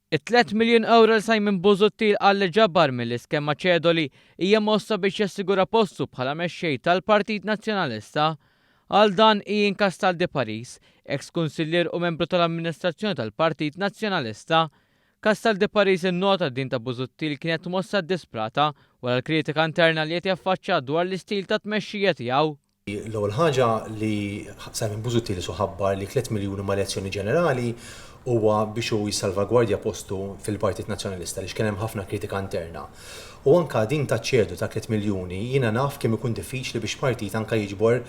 It-tliet miljun ewro li Simon Busuttil qal li ġabar mill-iskema Cedoli hija mossa biex jassigura postu bħala mexxej tal-Partit Nazzjonalista. Għal dan, Ian Castaldi Paris, eks kunsillier u membru tal-amministrazzjoni tal-Partit Nazzjonalista. Castaldi Paris innota li din ta' Busuttil kienet mossa ddisprata wara l-kritika interna li qed jaffaċċa dwar l-istil ta' tmexxija tiegħu. L-ewwel ħaġa li Simon Busuttil isu ħabbar li tliet miljuni mal-elezzjoni ġenerali huwa biex hu jissalvagwardja postu fil-Partit Nazzjonalista għaliex kien hemm ħafna kritika interna. U anke din taċ-ċedu ta' tliet miljuni jiena naf kemm ikun diffiċli biex partit anke jiġbor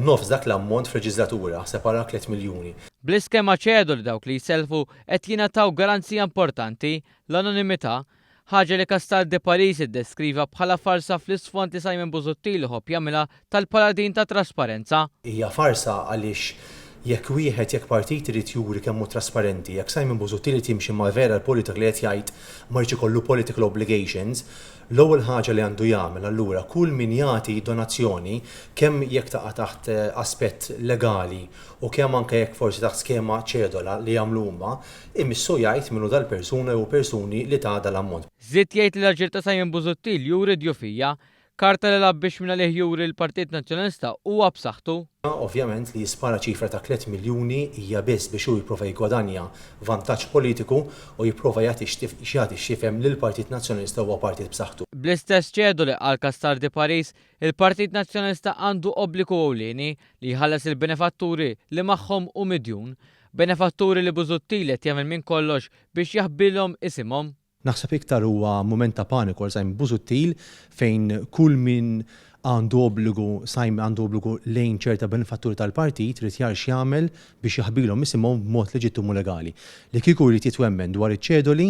nofs dak l-ammont f'leġiżlatura, aħseb ara tliet miljuni. Bl-iskema ċedu li dawk li jsellfu qed jingħataw garanzija importanti, l-anonimità, Ħaġa li Castaldi Paris iddeskriva bħala farsa fl-isfond li Simon Busuttil iħobb jagħmilha tal-paladin tat-trasparenza. Hija farsa għaliex jekk wieħed, jekk partit irid juri kemm hu trasparenti, jekk Simon Busuttil irid jimxi mal-vera l-politika li qed jgħid ma jridx ikollu political obligations, l-ewwel ħaġa li għandu jagħmel allura kull min jagħti donazzjoni kemm jekk taqa' taħt aspett legali u kemm anke jekk forsi taħt skema ċedola li jagħmlu huma, Imissu jgħid min hu dal-persuna jew persuni li ta dal-ammont. Żied jgħid li l-aġir ta' Simon Busuttil juri djufija, karta li lgħab biex minn għalih juri li l-Partit Nazzjonalista huwa b'saħħtu. Ovvjament li jispara ċifra ta' tliet miljuni hija biss biex hu jipprova jiggwadanja vantaġġ politiku u jipprova jagħti jagħti x'jifhem li l-Partit Nazzjonalista huwa partit b'saħħtu. Bl-istess ċedoli għal Cassar de Paris, il-Partit Nazzjonalista għandu obbligu ewlieni, li jħallas il-benefatturi li magħhom hu midjun. Benefatturi li Busuttil qed jagħmel minn kollox biex jaħbilhom isimhom. Naħseb iktar huwa mument ta' paniku għal Simon Busuttil fejn kull min għandu obbligu Simon għandu obbligu lejn ċerta benefatturi tal-partit irid jagħrf x'jagħmel biex jaħbilhom isimhom b'mod leġittimu legali. Li kieku jrid jitwemmen dwar iċ-ċedoli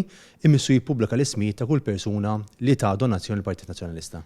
imissu jippubblika l-ismijiet ta' kull persuna li ta donazzjoni lill-Partit Nazzjonalista.